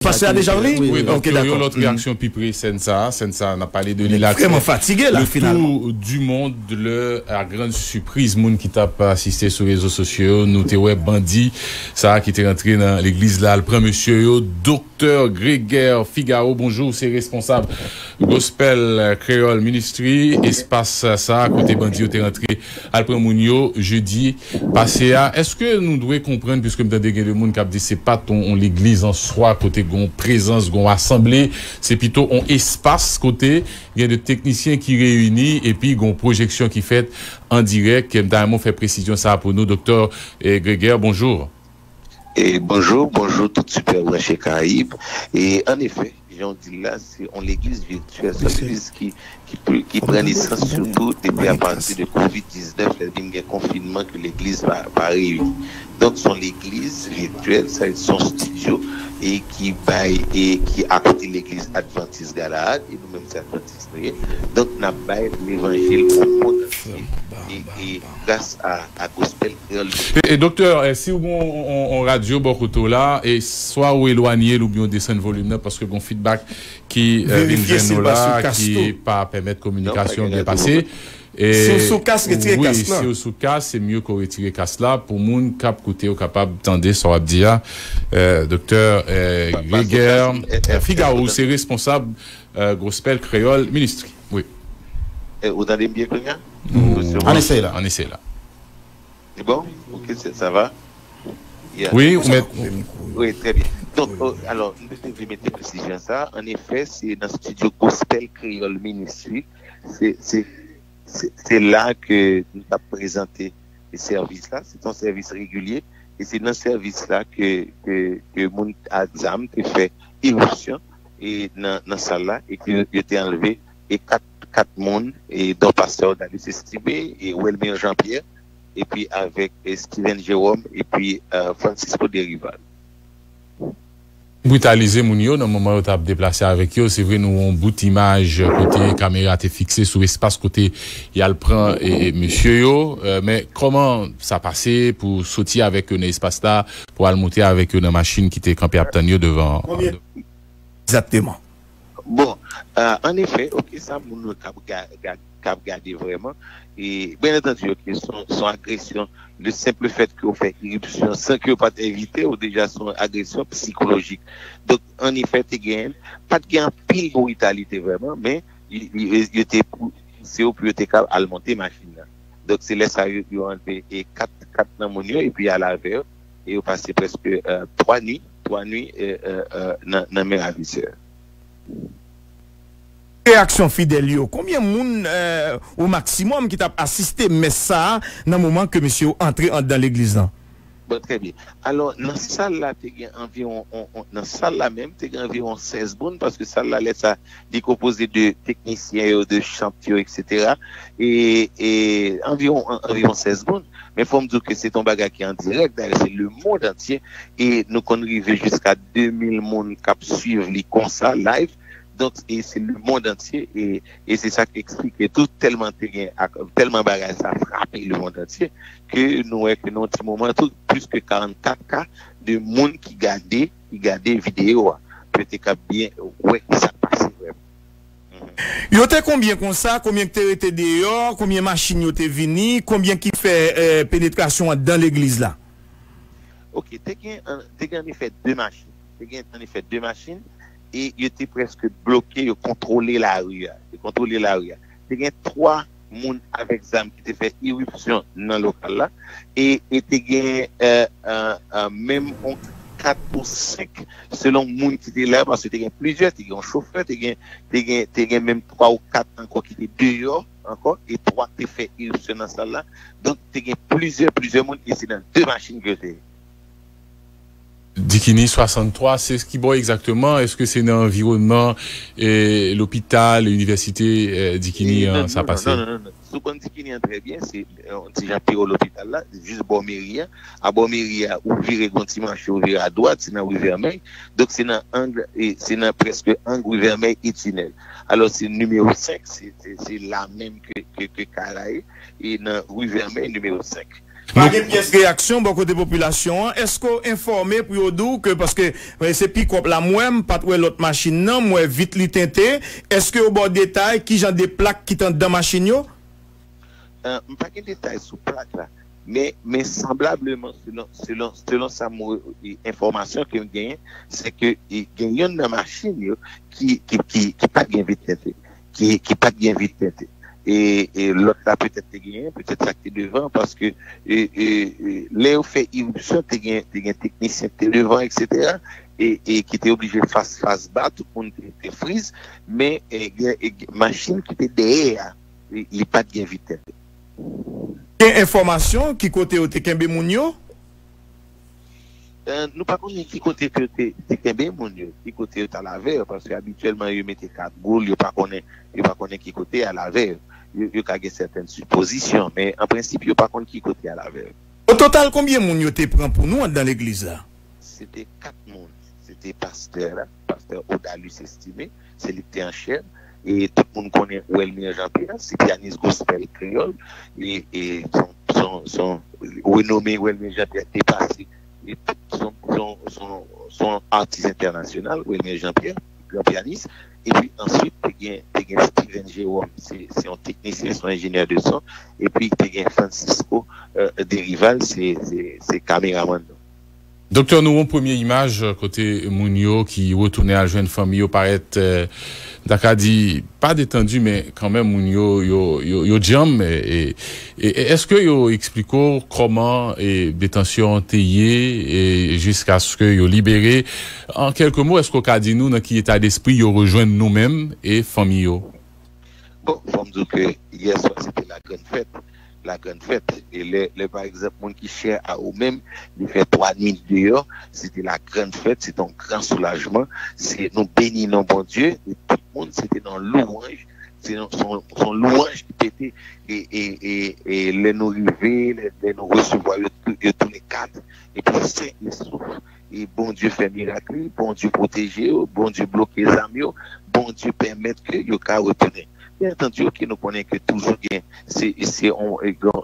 Pastè a deja ri? Wi, donk yon lòt reyaksyon pi pre sèn sa a, sèn sa a nap pale de li la te le tour du monde lè a grand sipriz moun ki tap asiste sou rezo sosyo yo nou te wè bandi sa a ki te rantre nan legliz la al pran mesye yo Doktè Greger Figaro bonjou ou se responsab Gospel Creole Ministry espas sa a kote bandi yo te rantre Al pran moun yo jeudi pase a eske nou dwe konprann puiske m tande gen de moun kap di se pat on legliz an swa kote gon prezans gon asanble se pito on espas kote gen de teknisyen ki reyini epi gon pwojeksyon ki fèt an dirèk m ta renmen w fè presizyon sa pou nou doktè Greger bonjour. Bonjou, bonjou tout sipè branche Karayib, e an efè. Jan w di l la, se yon legliz virtyèl. Se yon legliz ki pran nesans sitou depi apati de covid 19 lè vin gen konfinman ke legliz pa reyini. Donk se yon legliz virtyèl, sa vle di se yon studio e ki bay e ki akote legliz advantis Galaad e nou menm se advantis. Oke donk nap bay levanjil on mond antye e gras a gospel kreyol tv. E doktè si ou gen on radyo bò kote w la e swa ou elwanye l oubyen ou desann volim nan paske gen on fidbak ki vin jwenn nou la ki pa pèmèt kominikasyon an byen pase e wi si ou sou kas se mye ke w retire kas la pou moun kap koute yo kapab tande sa wap di a doktè Greger Figaro ou se responsab Gospel Creole Ministry wi. Ou tande m byen kounya? An eseye la. An eseye la. Se bon? Ok sa va? Yeah. Wi ou mèt. Wi trè byen. Donk alò m te vle mete presizyon sa a. An efè se nan studio Gospel Creole Ministry se la ke nou tap prezante sèvis la. Se ton sèvis regilye e se nan sèvis la ke moun ak zam te fè iripsyon. nan sal la e ke yo te anlve 4 moun don pastè Odalis Estime, Welmir Jean Pierre epi avèk Steven Jerome epi Francisco Derival. Britalize moun yo nan moman yo tap deplase avèk yo, se vre nou wè yon bout imaj kote kamera te fikse sou espas kote yal pran mesye yo, men kòman sa pase pou soti avèk yo nan espas la pou al moute avèk yo nan machin ki te kanpe ap tann yo devan an? Egzakteman. Bon, an efè, ok, sa moun yo kab kab gade vrèman, e byen antandi ok son agresyon, le senple fèt ke ou fè iripsyon san ke yo pat envite ou deja son agresyon psikolojik. Donk an efè te gen, pat gen anpil britalite vrèman men yo te pouse yo pou yo te kab al monte machin nan. Donk se lè sa yo anleve 4 nan moun yo epi al avè yo. e yo pase prèske 3 nuit, 3 nuit nan men ravisè. Reyaksyon fidèl yo, konbyen moun o maksimòm ki tap asiste mès sa a nan moman ke mesye yo antre andan legliz lan? Bon, trè byen. Alò, nan sal la te gen anviwon, nan sal la menm, te gen anviwon 16 moun, paske sal la lè sa Li konpoze de teknisyen yo, de chant yo etc. E anviwon anviwon 16 moun. Men fò m di w ke se t on bagay ki an dirèk, dayè se le mond antye e nou konn rive jiska 2000 moun k ap swiv li konsa live. Donk e se le mond antye e se sa k eksplike tou tèlman te gen ak tèlman bagay sa frape le mond antye ke nou wè ke nan yon ti moman tou plis ke 44 ka de moun ki gade. Ki gade video a pou yo te ka byen wè sak pase vrèman. Yo te konbyen konsa, konbyen ki te rete deyò, konbyen machin yo te vini, konbyen ki fè penetrasyon an dan legliz la? Ok, te gen te gen an efè 2 machin, te gen an efè 2 machin e yo te prèske bloke, yo kontwole lari a, yo kontwole lari a. Te gen 3. moun avèk zam ki te fè iripsyon nan lokal la e e te gen menm yon kat pou 5 selon moun ki te la paske te gen plizyè, te gen yon chofè, te gen te gen menm 3 ou 4 ankò ki te deyò ankò e 3 ki te fè iripsyon nan sal la donk te gen plizyè plizyè moun e se nan 2 machin ke yo te ye. Dikini 63, Se ki bò egzakteman? Eske se nan anviwònman lopital, inivèsite Dikini an sa pase? Non, non, non, non. Si w konn Dikini an trè byen, se yon ti jan pi wo lopital la, jis bò meri a. A bò meri a, ou vire gon ti manche, ou vire adwat, se nan ri Vèmèy. Donk se nan ang, se nan prèske ang ri Vèmèy e Tinèl. Alò se nimewo 5, se la menm ke kay la ye, e nan ri Vèmèy nimewo 5. Nou gen pyès reyaksyon bò kote popilasyon an, èske w enfòme pou yo di w ke paske se pikòp la m wè, m pat wè lòt machin nan, m wè vit li tente, èske yo ba w detay kijan de plak ki t anndan machin yo? M pa gen detay sou plak la, men men sanblableman selon selon selon sa m enfòmasyon ke m genyen se ke gen yonn nan machin yo ki ki ki pat gen vit tente. ki pat gen vide tèt e lòt la petèt te genyen, petèt sa ki te devan paske lè yo fè iripsyon te gen teknisyen ki te devan eksetera e ki te oblije fas fas ba tout moun te friz men machin ki te dèyè a li pat gen vide tèt. Gen enfòmasyon ki kote yo te kenbe moun yo? Nou pa konnen ki kote ke yo te kenbe moun yo, ki kote yo ta al avè yo, paske abityèlman yo mete kat boul, yo pa konnen, yo pa konnen ki kote y al avè yo. Yo ka gen sèten sipozisyon, men an prensip yo pa konn ki kote y al avè yo. O total konbyen moun yo te pran pou nou andan legliz la? Se te 4 moun, se te pastè a. Pastè Odalus Estimé, se li ki te an chèn, e tout moun konnen Welmir Jean Pierre, se pyanis gospèl kreyòl, e son renome Welmir Jean Pierre depase son atis entènasyonal Welmir Jean Pierre, gran pyanis, epi answit te gen Steven Jérôme, se yon teknisyen, se yon enjenyè de son, epi te gen Francisco Derival, se kameramann nou. Doktè nou won premye imaj kote moun yo ki retounen al jwenn fanmi yo parèt m ta ka di pa detandu men kanmenm moun yo yo djanm e eske yo eksplike w kòman detansyon an te ye jiskaske yo libere an kèlke mo eske w ka di nou nan ki eta despri yo rejwenn nou menm e fanmi yo? Bon, fò m di w ke yè swa se te la grann fèt, la grann fèt. E lè, lè pa egzanp moun ki chè a ou menm, li fè 3 nwit deyò, se te la grann fèt, se te yon gran soulajman. Se nou beni non Bondye e tout moun se te nan lwanj, se yon, se yon, se yon lwanj ki pete. E, e, e, e lè nou rive, lè, lè nou resevwa yo, yo tounen 4 epi 5 yo souf. Bondye fè mirak wi Bondye pwoteje yo Bondye bloke zam yo Bondye pèmèt ke yo ka retounen byen antandi ok nou konnen ke toujou gen se se yon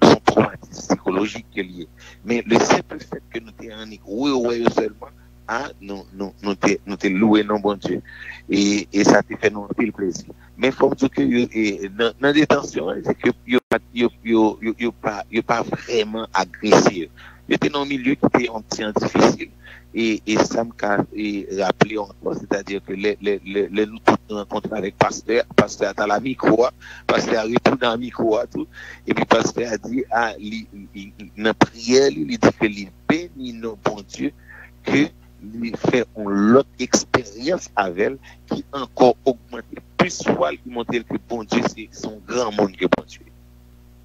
son twomatis sikolojik ke li ye men le senpl fèt ke nou te annik rewè yo sèlman a nou nou nou te nou te louwe non Bondye e e sa te fè nou anpil plezi. Men fòm diw ke yo e nan detansyon an, se ke yo pat yo yo yo pa yo pa vrèman agrese yo. Yo te nan yon milye ki te yon ti an difisil e e sam ka e raple ankò se ta di ke lè lè lè lè nou tout nou rankontre avèk pastè a, pastè a tal a mikwo a, pastè a retounen a mikwo a tou epi pastè a di a li li nan priyè li, li di ke li beni non Bondye ke li fè yon lòt eksperyans avè l ki ankò ogmante plis fwa l ki montre l ke Bondye se yon granmoun ke Bondye ye.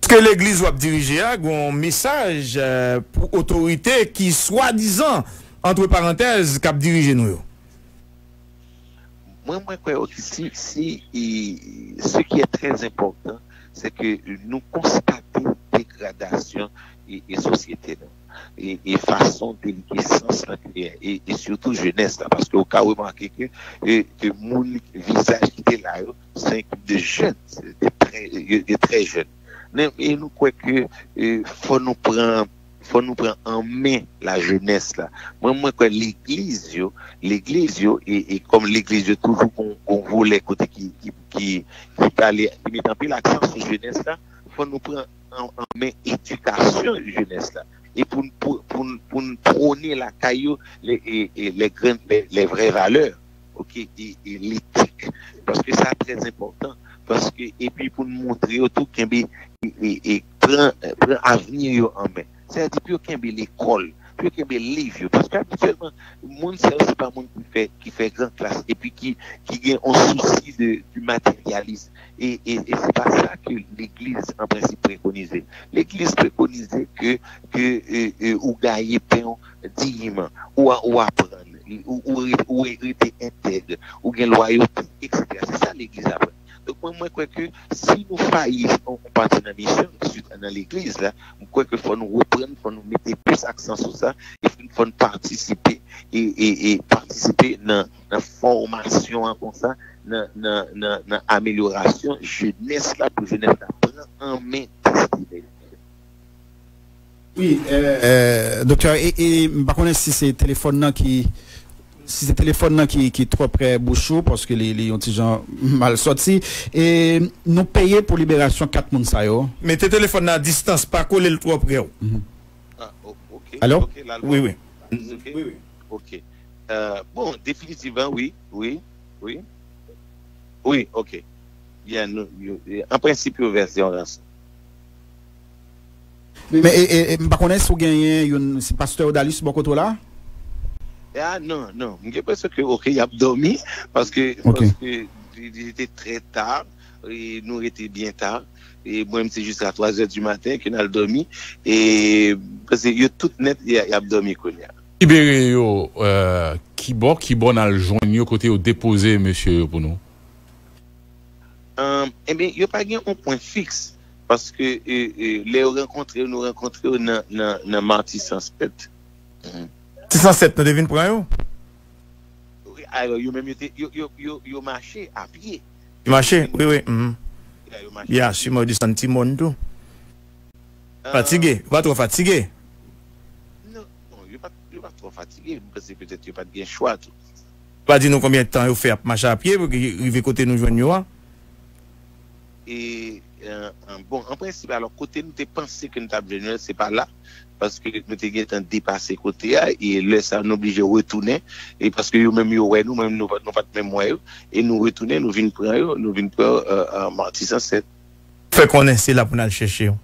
Eske legliz wap dirije a gen yon mesaj pou otorite ki swadizan antre parantèz kap dirije nou yo? Mwen mwen kwè ok si si se ki è trè enpòtan se ke nou konstate degradasyon e sosyete nou. e fason ke li gen sans lan klè e sitou jenès la paske ou ka remake ke moun vizaj ki te la yo se yon ekip de jèn yo te trè jèn e nou kwè ke fò nou pran fò nou pran an men la jenès la mwen mwen kwè legliz yo legliz yo e kòm legliz yo toujou kon volè kote ki ki ki pale ki met anpil aksan sou jenès la fò nou pran an men edikasyon jenès la e pou n pou n pwone lakay yo lè grenn lè vrè valè ok e letik paske sa trè enpòtan paske epi pou n montre yo tou kenbe e pran avni yo an men. Sa vle di pou yo kenbe lekòl, pou yo kenbe liv yo. Paske abityèlman, moun sa yo se pa moun ki fè gran klas epi ki gen yon sousi de materyalism. E se pa sa ke legliz an prensip prekonize. Legliz prekonize ke ou gaye pen ou diyiman, ou aprann, ou rete entèg, ou gen lwayote, eksetera. Se sa legliz aprann. Donk mwen mwen kwè ke si nou fayi nan yon pati nan misyon nou, sitou nan legliz la, mwen kwè ke fò nou reprann, fò nou mete plis aksan sou sa, epi fò nou patisipe e patisipe nan fòmasyon an konsa, nan amelyorasyon jenès la pou jenès la pran an men destine l. Wi doktè e m pa konnen si se telefòn nan ki si se telefòn nan ki twò prè bouch ou paske li yon ti jan mal sòti e nou peye pou liberasyon 4 moun sa yo. Mete telefòn nan a distans pa kole l twò prè w. Alo wi wi. Ok bon definitivman wi wi wi wi ok byen an prensip yo vèse yon ranson. Men e e m pa konnen si w genyen youn si pastè Odalis bò kote w la? Ya non non m gen presyon ke ok y ap dòmi paske paske li rete trè ta e nou rete byen ta e mwen m se jis a twa zè di maten ke n al dòmi e paske yo tout nèt y ap dòmi kounye a. Libere yo kibò? Kibò n al jwenn yo? Kote yo depoze mesye yo pou nou? Enben yo pa gen yon pwen fiks Paske lè yo rankontre yo, nou rankontre yo nan Matisan 7. Matisan 7 nou te vin pran yo? Wi, alò yo menm yo mache apye. Yo mache, wi wi. Ya, si mwen desann ti mòn tou. Fatige, yo pa twò fatige? Non, yo pa twò fatige. Mwen panse petèt yo pa t gen chwa tou. Yo pa di nou konbyen tan yo fè ap mache apye pou rive kote nou jwenn yo a? E bon an prensip alò kote nou te panse ke nou tap jwenn yo se pa la paske nou te gentan depase kote a e lè sa nou oblije retounen e paske yo menm yo wè nou men nou pat menm wè yo e nou retounen nou vin pran yo nou vin pran Martissant 7. Fè konnen se la pou nal chèche yo.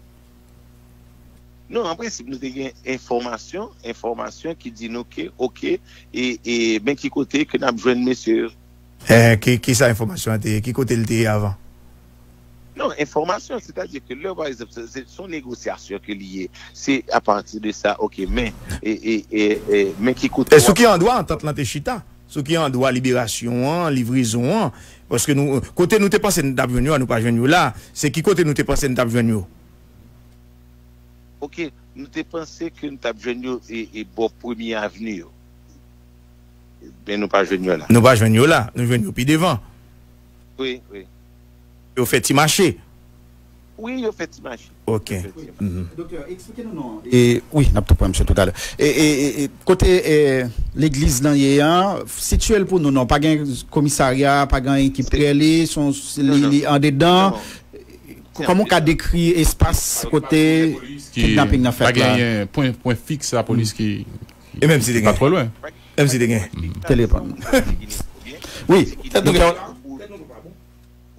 Non an prensip nou te gen enfòmasyon enfòmasyon ki di nou ke ok e men ki kote ke nap jwenn mesye yo. Enh ki ki sa enfòmasyon an te ye? Ki kote li te ye avan? Non, enfòmasyon, sètadi ke lè pa ekzanp se se son negosyasyon ke li ye, se a pati de sa ok men e e e e men ki kote E sou wap ki andwa antant lan te chita? Sou ki andwa liberasyon an, livrezon an? Paske nou kote nou te panse nou tap jwenn yo a nou pa jwenn yo la a, se ki kote nou te panse nou tap jwenn yo? Ok, nou te panse ke nou tap jwenn yo e e bò premye avni yo. Men nou pa jwenn yo la. Nou pa jwenn yo la. Nou jwenn yo pi devan. Wi, wi. Yo fè ti mache. Wi, yo fè ti mache. Ok. Doktè, eksplike nou non. E, wi, n ap tou pran misye toutalè. E, e, e, kote legliz lan ye a, sitye l pou nou non. Pa gen komisarya, pa gen anyen ki pre li, s on, li andedan. Kòman ou ka dekri espas kote kidnaping nan fèt la? Pa genyen pwen fiks lapolis ki E menm si te gen. Menm si te gen. Telepon. Wi. Tèt nou gen. Tèt nou pa bon.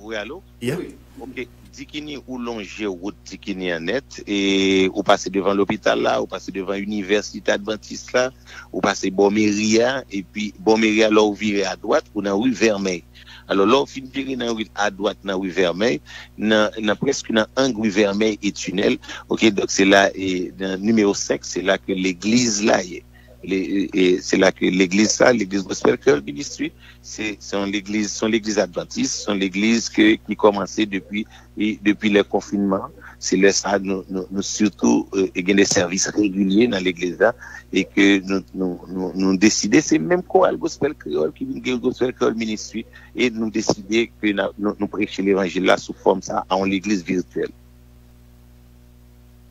Wi alo. Yeah. Ok. Dikini ou lonje wout Dikini an nèt e ou pase devan lopital la, ou pase devan inivèsite advantis la, ou pase bò meri a epi bò meri a lè ou vire adwat ou nan ri Vèmèy. Alò, lè w fin vire nan ri l adwat nan ri Vèmèy, nan prèske nan ang ri Vèmèy e Tinèl, ok, donk se la e nan nimewo 5, se la ke legliz la ye. Se la ke legliz sa, legliz Gospel Creole Ministry, se yon legliz, se yon legliz advantis, se yon legliz ke ki kòmanse depi E depi lè konfinman, se lè sa nou sitou gen de sèvis regilye nan legliz la e ke nou deside, se menm koral gospèl kreyòl ki vin gen gospèl kreyòl ministri e nou deside ke nou preche levanjil la sou fòm sa a yon legliz virityèl.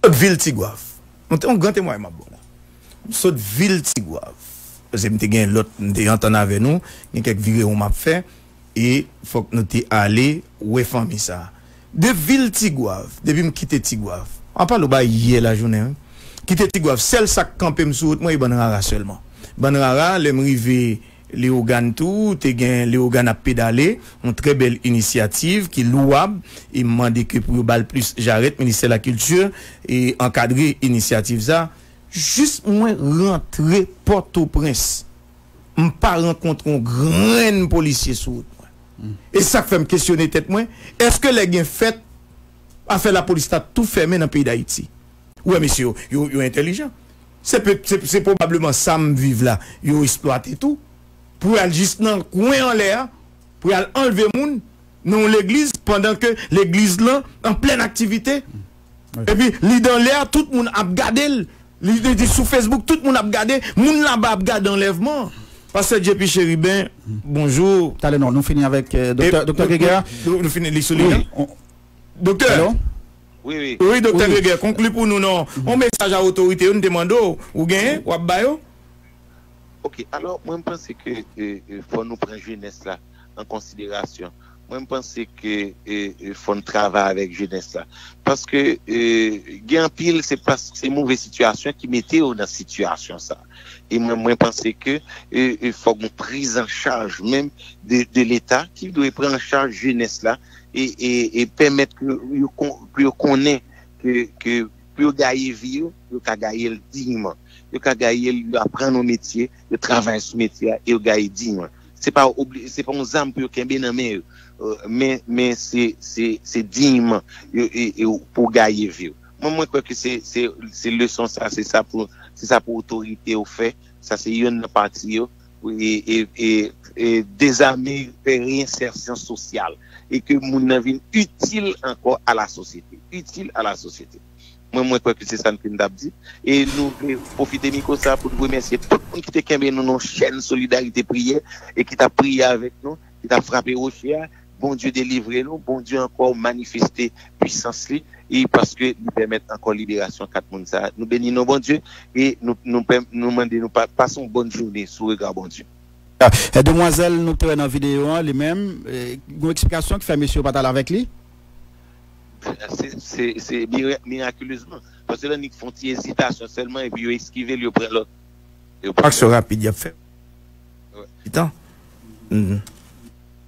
Sot vil Tigwav. Mwen te yon gran temway map bon la. M sot vil Tigwav. Pase m te gen lòt m te antann avè nou, gen kèk virewon map fè. E fòk nou te ale wè fanmi sa. De vil Tigwav, depi m kite Tigwav. Map pale w bagay yè lajounen wi. Kite Tigwav, sèl sa k kanpe m sou wout mwen e bann rara sèlman. Bann rara, lè m rive Lewogàn tou, te gen Lewogàn ap pedale, yon trè bèl inisyativ ki louwab e m mande ke pou yo ba l plis jarèt, ministè lakilti ankadre inisyativ sa. Jis mwen rantre Pòtoprens. m pa rankontre yon grenn polisye sou wout mwen. E sa k fè m kesyone tèt mwen, èske lè gen fèt, afè lapolis ta tou fèmen nan peyi Dayiti? Ou wè mesye yo, yo entèlijan. Se pe, se pwobableman sa m viv la, yo esplwate tou, pou y al jis nan kwen anlè a, pou y al anlve moun nan yon legliz, pandan ke legliz lan an plèn aktivite. Epi li dan lè a tout moun ap gade l li di sou Facebook tout moun ap gade moun laba ap gade anlèvman pastè JP Chérubin bonjou Talè non nou fini avèk doktè doktè Grégaire nou fini li sou liy lan doktè Allo Wi wi Wi doktè Grégaire konkli pou nou non yon mesaj a otorite yo nou te mande w ou genyen w ap ba yo Ok alò mwen m panse ke fò nou pran jenès la. an konsiderasyon. Mwen m panse ke fò n travay avèk jenès la. Paske gen anpil se paske se move sitiyasyon ki mete yo nan sitiyasyon sa. E mwen mwen panse ke fò gen priz an chaj menm de leta ki dwe pran an chaj jenès la e pèmèt pou yo konnen ke pou yo gaye vi yo, yo ka gaye l dinyman. Yo ka gaye l, yo aprann yon metye, Yo travay sou metye a e yo gaye diy an. Se pa yon zam pou yo kenbe nan men yo, men se diyman pou w gaye vi w. Mwen kwè ke se leson sa, se sa pou otorite yo fè. Sa se youn nan pati yo. E dezame, fè reyensèsyon sosyal e ke moun nan vin itil ankò a la sosyete. Itil a la sosyete. Mwen mwen kwè ke se sa n fin tap di. E nou vle pwofite mikwo sa pou n remèsye tout moun ki te kenbe nou nan chèn solidarite priyè e ki tap priye avèk nou, ki tap frape woche a. Bondye delivre nou, Bondye ankò manifeste pwisans li e paske li pèmèt ankò liberasyon 4 moun sa. Nou beni non Bondye e nou mande nou pase yon bòn joune sou rega Bondye. Demwazèl nou te wè nan videyo an li menm, gen yon eksplikasyon ki fè mesye yo pat al avèk li? Se mirakulezman. Paske lè nèg fon ti ezitasyon sèlman epi yo eskive l yo pran lòt. Aksyon rapid y ap fè. Ti tan.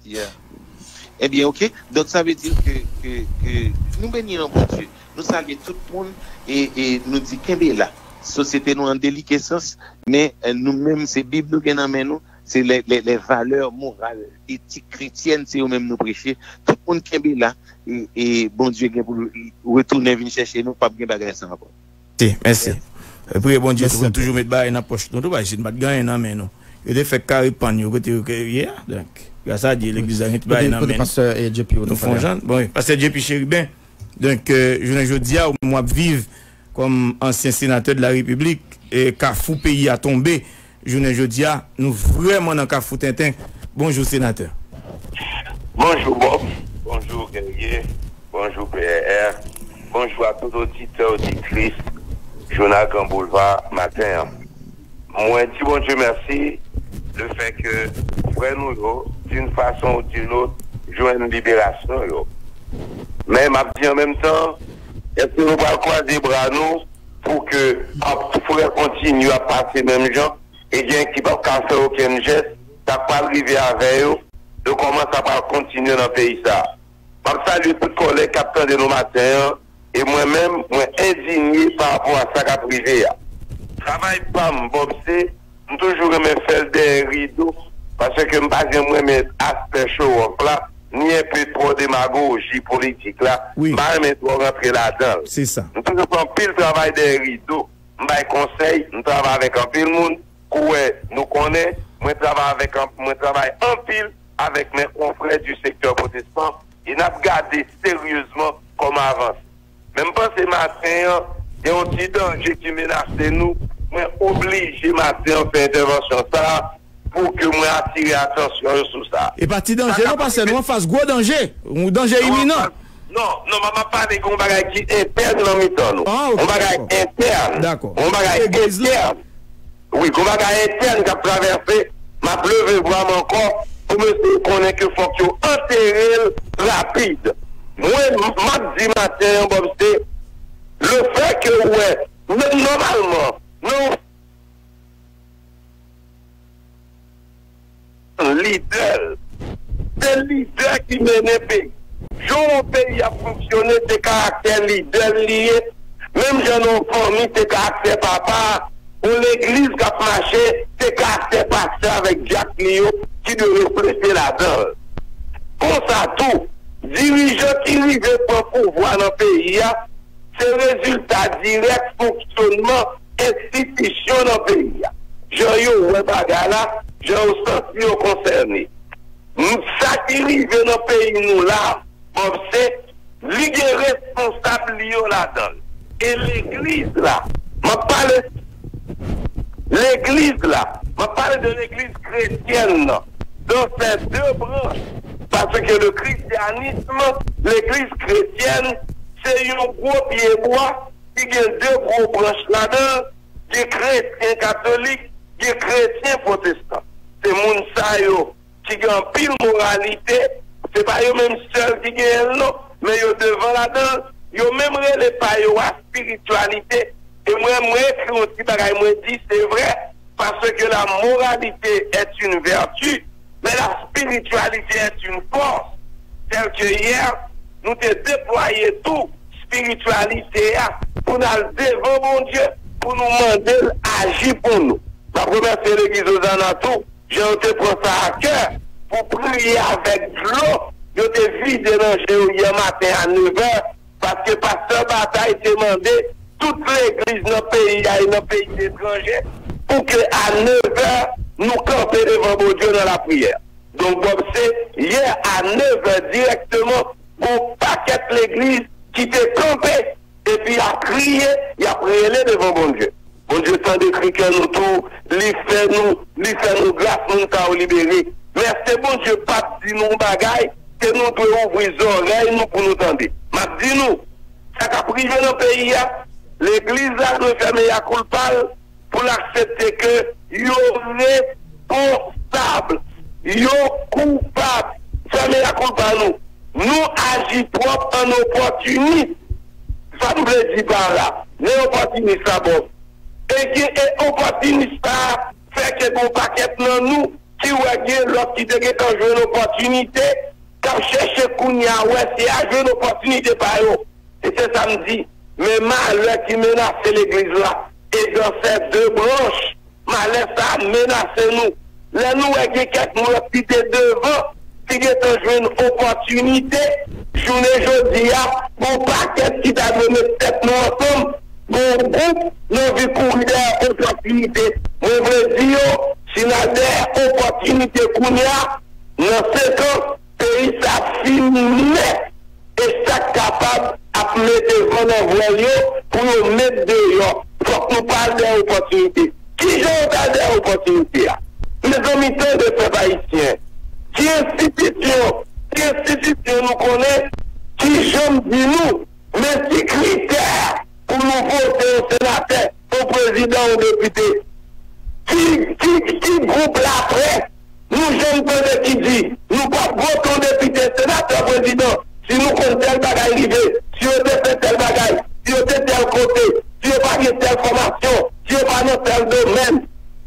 Yeah. Ebyen ok. Donk sa vle di ke nou beni nan Bondye. Nou salye tout moun e nou di kenbe la. Sosyete nou an delikesans men nou menm se bib nou gen nan men nou. Se lè valè moral, etik kretyèn se yo menm nou preche, tout moun kenbe la e Bondye gen pou l retounen vin chèche nou, pap gen bagay sa ankò. Mèsi. Priye Bondye tou pou n toujou met bagay nan pòch nou tou paske si nou pat gen anyen nan men nou, yo te fèk kare pann yo kote yo ke yo ye a. Donk, gras a Dye legliz la gen ti bagay nan men nou. Nou fon jan. Bon, pastè JP Chérubin, donk jounen jodi a ou menm wap viv Kòm ansyen senatè de la repiblik, kafou peyi a tonbe jounen jodi a, nou vrèman nan kafou tenten, bonjou senatè. Bonjou Bob, bonjou Guerrier, bonjou PRR, bonjou a tout oditè oditris jounal gran boulva maten an. Mwen di Bondye mèsi le fè ke frè nou yo din fason ou din lot jwenn liberasyon yo. Men map di an menm tan. Eske nou pral kwaze bra nou pou ke pap frè kontinye ap pase menm jan e gen ki pap ka fè okenn jès, sak pral rive avè yo e kòman sa pral kontinye nan peyi sa. Map salye tout kòlèg kap tande nou maten an e mwen menm mwen endinye pa rapò a sa kap rive a. Travay pam Bob se M toujou renmen fèl dèyè rido paske m pa janm renmen aspè show off la ni enpe twò demagoji politik la m pa renmen twò rantre ladan l. M toujou fè anpil travay dèyè rido, m bay konsèy, m travay avèk anpil moun kou wè nou konnen mwen travay avèk mwen travay anpil avèk mè konfrè di sektè pwotestan e n ap gade seryezman kòman avanse. Men m panse maten an gen yon ti danje ki menase nou, mwen oblije maten an fè entèvansyon sa a pou ke mwen atire atansyon yo sou sa. E pa ti danje non pastè, nou anfas gwo danje, yon danje iminan. Non, non, mwen ap pale yon bagay ki entèn nan mitan nou, yon bagay entèn, yon bagay entèn. Wi gon bagay entèn kap travèse map leve vwam ankò pou mesye yo konnen ke fòk yo anterel rapid mwen map di maten an bòb se lefè ke ou wè menm nòmalman nan yon. lidè l. Se lidè ki mennen peyi. Jan yon peyi ap fonksyone se karaktè lidè l li ye, menm jan nan yon fanmi se karaktè papa a, yon legliz k ap mache se karaktè pastè avèk dyak li yo ki dwe reflechi ladan l. Konsa tou, dirijan ki rive pran pouvwa nan peyi a se rezilta dirèk fonksyonman enstitisyon nan peyi a, jan yo wè bagay la, jan yo santi yo konsène. Sa ki rive nan peyi nou la a, Bob, se li gen responsab li yo ladan l. E legliz la, m ap pale legliz la, m ap pale de legliz kretyèn nan, dan sè de branch, paske le christianisme, legliz kretyèn, se yon gwo pyebwa ki gen de gwo branch ladan l, gen kretyen katolik, gen kretyen pwotestan. Se moun sa yo ki gen anpil moralite, se pa yo menm sèl ki genyen l non, men yo devan ladan l, yo menm rele pa yo a spirityalite, e mwen mwen ekri yon ti bagay mwen di se vrè, paske la moralite est une vertu. Men la spiritualité est une force telle que hier nou te deplwaye tou spiritualité a pou n al devan Bondye pou nou mande l aji pou nou. M ap remèsye legliz Ozana tou jan yo te pran sa a kè pou priye avèk dlo yo te vide nan je yo yè maten a nevè Paske Pastè Bataille te mande tout legliz nan peyi a e nan peyi letranje pou ke a 9 è nou kanpe devan Bondye nan lapriyè. Donk Bob se yè a 9 è dirèkteman gon pakèt legliz ki te kanpe epi ya kriye, yap rele devan Bondye. Bondye tande kri kè nou tou li fè nou li fè nou gras moun sa yo libere men eske Bondye pap di nou yon bagay ke nou dwe ouvri zòrèy nou pou nou tande map di nou sa kap rive nan peyi a legliz la dwe fè meya koulpa l pou l aksepte ke yo re pon sab yo koupab fè meya koulpa nou. Nou aji twòp an opòtinis. Sa m vle di pa la, lè opòtinis la ba w ede e opòtinis sa a fè ke gen yon pakèt nan nou ki wè gen lòt ki te gentan jwenn opòtinite, k ap chèche kounye a wè si y a jwenn opòtinite pa yo. E se sa m di, men malè ki menase legliz la e dansè de branch Malè sa a menase nou lè nou wè gen kèk moun ki te devan ki gentan jwenn opòtinite jounen jodi a pou pakèt ki ta dwe met tèt nou ansanm pou yon gwoup nou anvi kouri dèyè opòtinite mwen vle di yo si n al dèyè opòtinite kounye a nan senkan Peyi sa fini nèt e sak kapab ap mete van nan vwèl yo pou yo met deyò fòk nou pa al dèyè opòtinite. Kijan yo ta al dèyè opòtinite a? Mezanmi tande pèp ayisyen ki enstitisyon ki enstitisyon nou konnen ki janm di nou men ki kritè pou nou vote yon senatè, yon prezidan, yon depite? Ki ki ki gwoup laprès Nou janm tande ki di nou pap votew depite, senatè, prezidan si nou konn tèl bagay rive, si yo te fè tèl bagay, si yo te tèl kote, si yo pa gen tèl fòmasyon, si yo pa nan tèl domèn.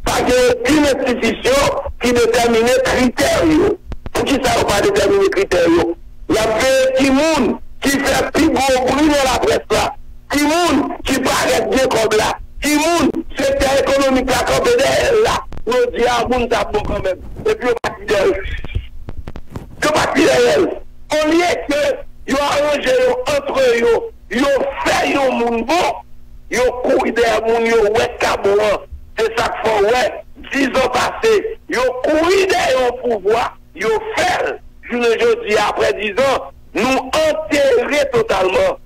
Pa gen okenn enstitisyon ki detèmine kritè yo. Poukisa yo pa detèmine kritè yo? Yap veye ki moun ki fè pi gwo bri nan laprès la. Ki moun ki parèt gen kòb la? Ki moun sektè ekonomik la kanpe dèyè l la? Yo di a moun sa bon kanmenm, epi yo pati dèyè l. Yo pati dèyè l. Olye ke yo aranje yo antre yo, yo fè yon moun bon, yo kouri dèyè moun yo wè k ka bon an. Se sa k fè w wè, dizan pase, yo kouri dèyè yon pouvwa, yo fè l, jounen jodi a, apre dizan, Nou antere totalman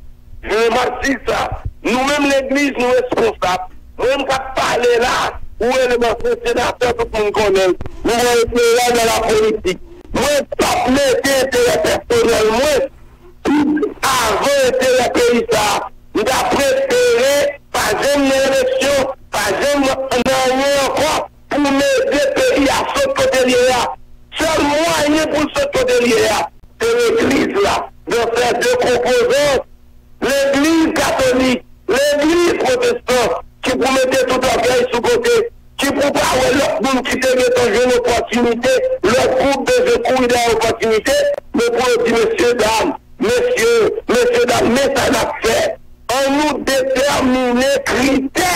vye mati sa. Nou menm legliz nou responsab. Mwen menm kap pale la ou rele m ansyen senatè tout moun konnen l. Nou gen enterè nan la politik. Mwen pap mete enterè pèsonèl mwen tout avan enterè peyi sa. M ta prefere pa janm nan eleksyon, pa janm nan anyen ankò. Pou n ede peyi a sot kote l ye a, sèl mwayen pou l sot kote l ye a, se legliz la nan sè de konpozan, legliz katolik, legliz pwotestan, ki pou mete tout ògèy sou kote, ki pou pa wè lòt moun ki te gen tan jwenn opòtinite, lòt gwoup bezwen kouri dèyè opòtinite, men pou yo di, Mesye dam, Mesye, mesye dam men sa nap fè, an nou detèmine kritè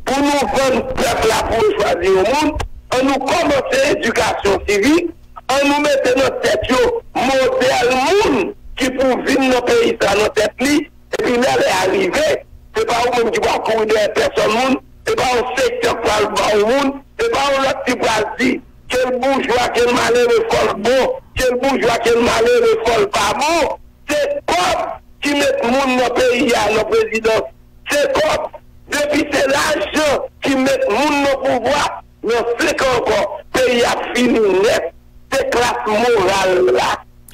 pou nou vann pèp la pou yo chwazi yon moun, an nou kòmanse edikasyon sivik, an nou mete nan tèt yo modèl moun ki pou vin nan peyi sa nan tèt li, epi lè lè a rive, se pa ou menm ki pral kouri dèyè pèsòn moun, se pa yon sektè k pral ba ou moun, se pa yon lòt ki pral di. Ke l boujwa, ke l malere, fò l bon, ke l boujwa, ke l malere, fò l pa bon. Se kòb ki met moun nan peyi a nan prezidans. Se kòb. Depi se lajan ki met moun nan pouvwa, nan senk an ankò, peyi a ap fini nèt. Se klas moral la.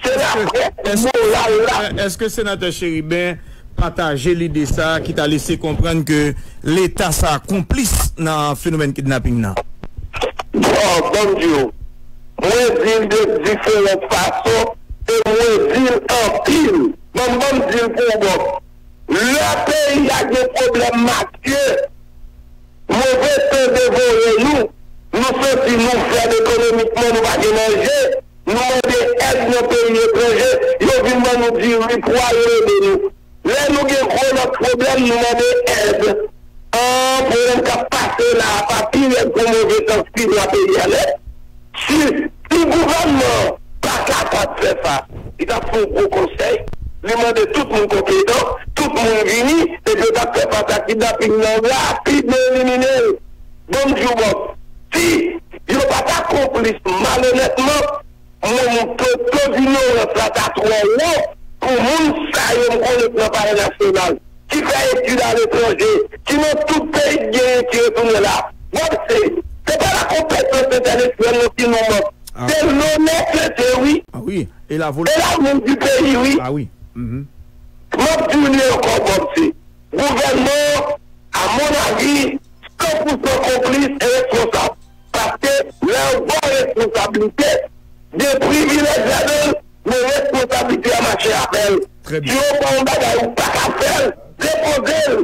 Se la près moral la. Eske Senatè Chérubin pataje lide sa ki ta lese konprann ke leta sa konplis nan fenomèn kidnaping nan? Bon, ban m di w. Mwen di l de diferant fason e mwen di l anpil. Ban m ban m di l pou w bòs. Lè peyi a gen pwoblèm matye, move tan devore nou, nou santi nou fèb ekonomikman, nou pa gen manje, Nou mande èd nan peyi etranje, yo vin ban nou diri, pwa, yo ede nou. Lè nou gen gwo lòt pwoblèm, nou mande èd. An, pwoblèm k ap pase la a pa pi rèd pou move tan si lwa peyi a nèt? Si, si gouvènman an pa kapab fè sa, li t ap fè yon gwo konsèy, li mande tout moun konpetan, tout moun vini, epi yo t ap fè fas a kidnaping nan rapid, yo elimine l. Bon m diw Bob, si yo pa ta konplis malonètman, mwen m to to dinyorans la ta twò wo pou moun sa yo m konnen k nan palè nasyonal, ki fè etid aletranje, ki nan tout peyi k genyen ki retounen la. Bob se, se pa la konpetans entèlektyèl non ki nou mank, se lonè kretyen wi, e lavni di peyi wi. M ap diw li ankò Bob se. Gouvènman an, a mon avi, san pousan konplis e responsab. Paske, lè yon gwo responsablite, gen privilèj ladan l, men responsablite a mache avè l. Si yo ba w yon bagay ou pa ka fè l, depoze l!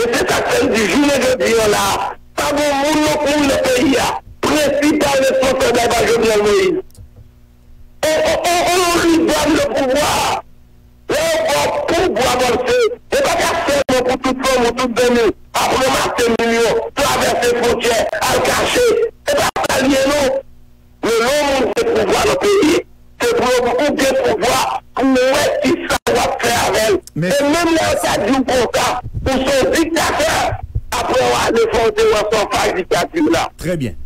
E se sa k fè n di jounen jodi an la a, pa gen yon moun lòt moun nan peyi a, prensipal responsab la e pa Jovenel Moïse. Oh oh oh li banm le pouvwa lè yo baw pouvwa panse ou pa ka fè non pou tout fanmi ou tout zanmi ou ap ranmase milyon travèse fwontyè al kache se pa sa li ye non lè yon moun gen pouvwa nan peyi se pou yo di ou gen pouvwa pou ou wè kisa wap fè avèl e menm lè yo ta diw konsa ou se yon diktatè aprè yon ane fòw te wè fòw fay diktati w la. Trè byen.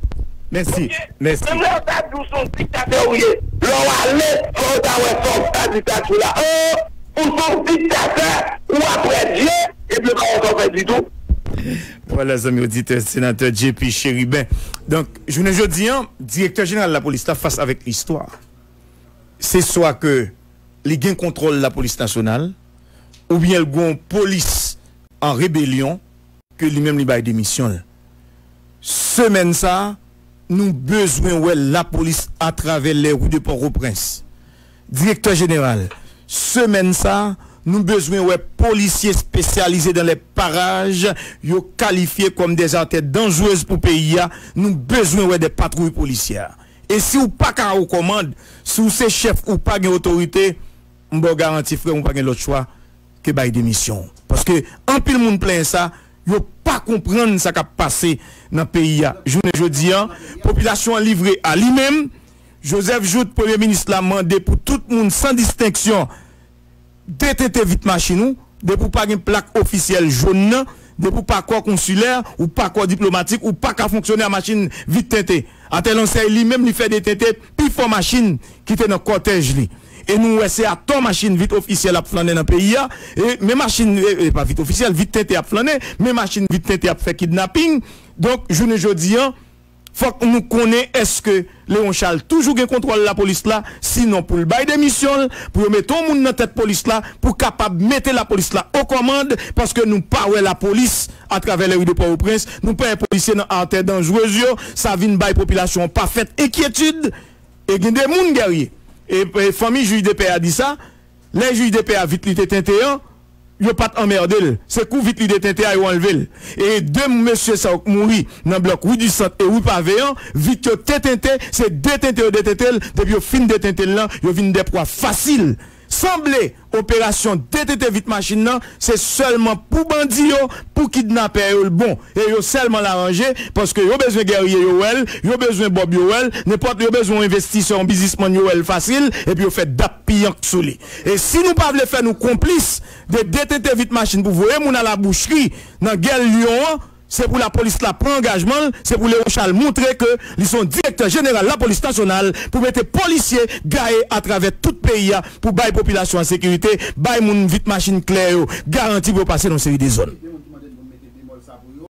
Mèsi. Mèsi. Menm lè yo ta di w son diktatè ou ye, lè w ale fò w ta wè fòs sa diktatye w la oo, ou son diktatè ou aprè Dye epi yo pa wè sa w fè ditou. Vwala zanmi oditè Senatè JP Chérubin. Donk, jounen jodi an, Direktè Jeneral Lapolis la fas avèk listwa. Se swa ke li gen kontwòl Lapolis Nasyonal oubyen l gen yon polis an rebelyon ke li menm li bay demisyon l. Semèn sa a, nou bezwen wè lapolis atravè les rues de Port-au-Prince. Direktè Jeneral, Semèn sa a, nou bezwen wè polisye espesyalize dans les parages yo kalifye kòm des artères dangereuses pou peyi a, nou bezwen wè des patrouilles policières. E si ou pa ka o kòmand, si ou se chèf ou pa gen otorite, m ba w garanti frè m ou pa gen lòt chwa, ke bay demisyon w paske anpil moun plenyen sa yo pa konprann sa kap pase nan peyi a jounen jodi an popilasyon an livre a li menm Joseph Jouthe premye minis la mande pou tout moun san distenksyon detente vit machin ou depi w pa gen plak ofisyèl jón nan depi w pa kò konsilè ou pa kò diplomatik ou paka fonksyone a machin vit tente atè lonsèy li menm li fè detente pi fò machin ki te nan kòtèj li. E nou wè se atò machin vit ofisyèl ap flannen nan peyi a, e men machin, e pa vit ofisyèl, vit tente ap flannen, men machin vit tente ap fè kidnaping. Donk, jounen jodi an, fòk nou konnen èske Leron Chal toujou gen kontwòl lapolis la, sinon pou l bay demisyon l, pou yo mete yon moun nan tèt polis la pou kapab mete lapolis la okòmand, paske nou pa wè lapolis. Atravè lèri de Pòtoprens, nou pè polisye nan artè danjrez yo, sa vin bay popilasyon an pafèt enkyetid e gen de moun Guerrier e fanmi jij de pè a di sa, lè jij de pè a vit li te tente an, yo pa t anmède l, se kou vit li te tente a yo anlve l e de mesye sa yo k mouri nan blòk Rue du Centre e Rue Pavée an, vit yo te tente, se detente yo detente l, depi yo fin detente l lan, yo vin dè pwa fasil. Sanble. Operasyon detete vit machin nan se sèlman pou bandi yo, pou kidnapè yo l bon. E yo sèlman la ranje paske yo bezwen gèrye yo wè l, yo bezwen bòb yo wè l, nenpòt yo bezwen yon envestisè, yon bizismann yo wè l fasil epi yo fè dap piyank sou li. E si nou pa vle fè nou konplis de detete vit machin pou voye moun a la bouchri nan gè lyon an, Se pou lapolis la pran angajman l, se pou Léon Charles montre ke li se yon direktè jeneral lapolis nasyonal pou mete polisye gaye atravè tout peyi a pou bay popilasyon an sekirite, bay moun vit machin klè yo garanti pou yo pase nan yon seri de zòn.